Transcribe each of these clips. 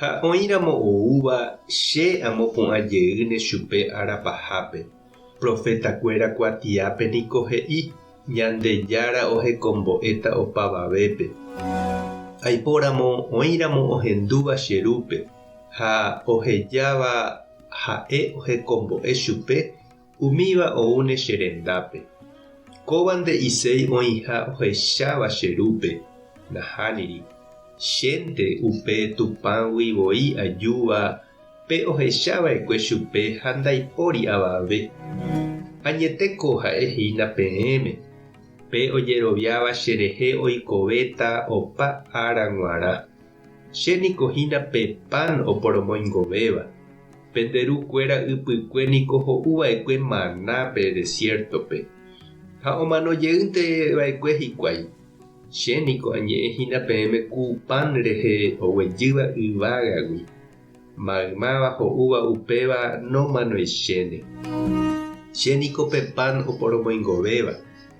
Ha oĩramo oúva che amopu'ã jeýne chupe ára pahápe, profetakuéra kuatiápe niko he'i, Ñandejára ohekombo'éta opavavépe. Aipóramo oĩramo ohendúva che rúpe ha ohejáva ha'e ohekombo'e chupe Umíva oúne che rendápe. Kóva nde'iséi oĩha ohecháva che rúpe, nahániri. Chénte upe Tupãgui voi ajúva pe ohecha vaekue chupe ha ndaipóri avave. Añete ko ha'e hína peẽme, pe ojeroviáva cherehe oikovéta opa ára g̃uarã. Che niko hína pe pan oporomoingovéva, pende ru kuéra ypykue niko ho'u vaekue maná pe desiértope, ha omano jeýnte vaekue hikuái. Che niko añe'ẽ hína peẽme ku pan rehe oguejýva yvágagui, maymáva ho'úva upéva nomanoichéne. Che niko pe pan oporomoingovéva.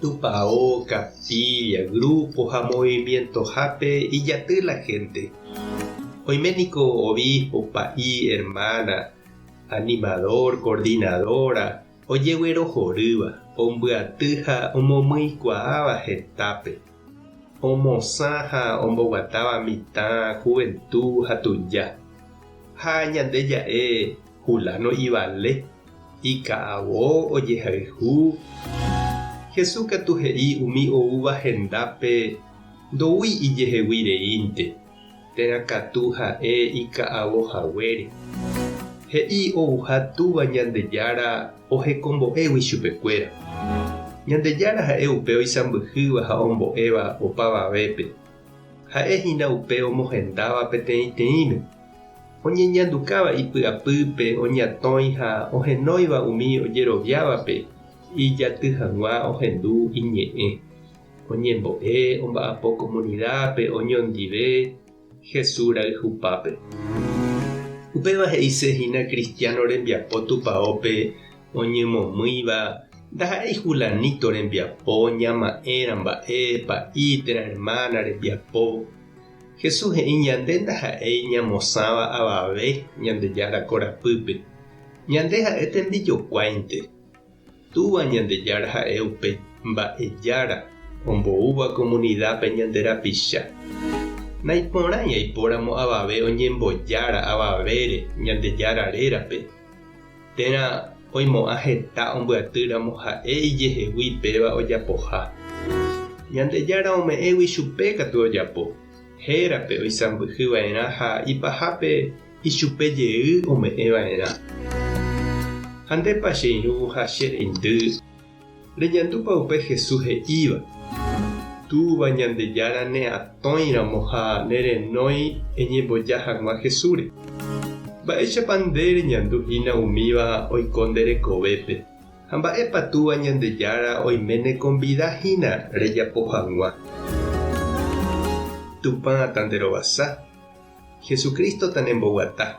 Tupao, capilla, grupo ha movimientohápe ijaty la gente. Oime niko obispo, pa'i, hermana, animador, coordinadora, ojeguerohorýva, ombyaty ha omomyikuaáva hetápe, omosã ha omboguatáva mitã juventud ha tuja, ha ñande ja'e Fulano ivale. Ika'avo ojehayhu. Jesús katu he'i umi oúva hendápe ndoúi ijehegui reínte, térã katu ha'e ika'avo haguére. He'i ouha Túva Ñandejára ohekombo'égui chupekuéra. Ñandejára ha'e upe oisãmbyhýva ha ombo'éva opavavépe, Ha'e hína upe omohendáva peteĩteĩme, oñeñandukáva ipy'apýpe oñatõi ha ohenóiva umi ojeroviávape ijaty hag̃ua ohendu iñe'ẽ, oñembo'e omba'apo komunidápe oñondive Jesús rayhupápe. Upéva he'ise hína kristiáno rembiapo tupaópe oñemomýiva ndaha'éi Julanito rembiapo, ñama'ẽra mba'e, pa'i, térã ermána rembiapo. Jesús he'i ñande ndaha'éi ñamosãva avave Ñandejára korapýpe. Ñande ha'e tembijokuáinte. Túva Ñandejára ha'e upe Mba'ejára omboúva komunidápe ñande rapicha. Naiporãi aipóramo avave oñembojára avavére Ñandejára rérape. Térã oimo'ã heta ombyaty ramo ha'e ijehegui péva ojapoha. Ñandejára ome'ẽgui chupe katu ojapo, hérape oisãmbyhy va'erã ha ipahápe ichupe jey ome'ẽ va'erã. Ha ndépa che irũha che reindy Reñandúpa upe Jesús he'íva, Túva Ñandejára neatõi ramo ha ne renói eñemboja hag̃ua Jesúsre? Mba'éichapa nde reñandu hína umíva oiko nde rekovépe, ha mba'épa Túva Ñandejára oime nekonvida hína rejapo hag̃ua? Tupã tanderovasa, Jesucristo tanemboguata.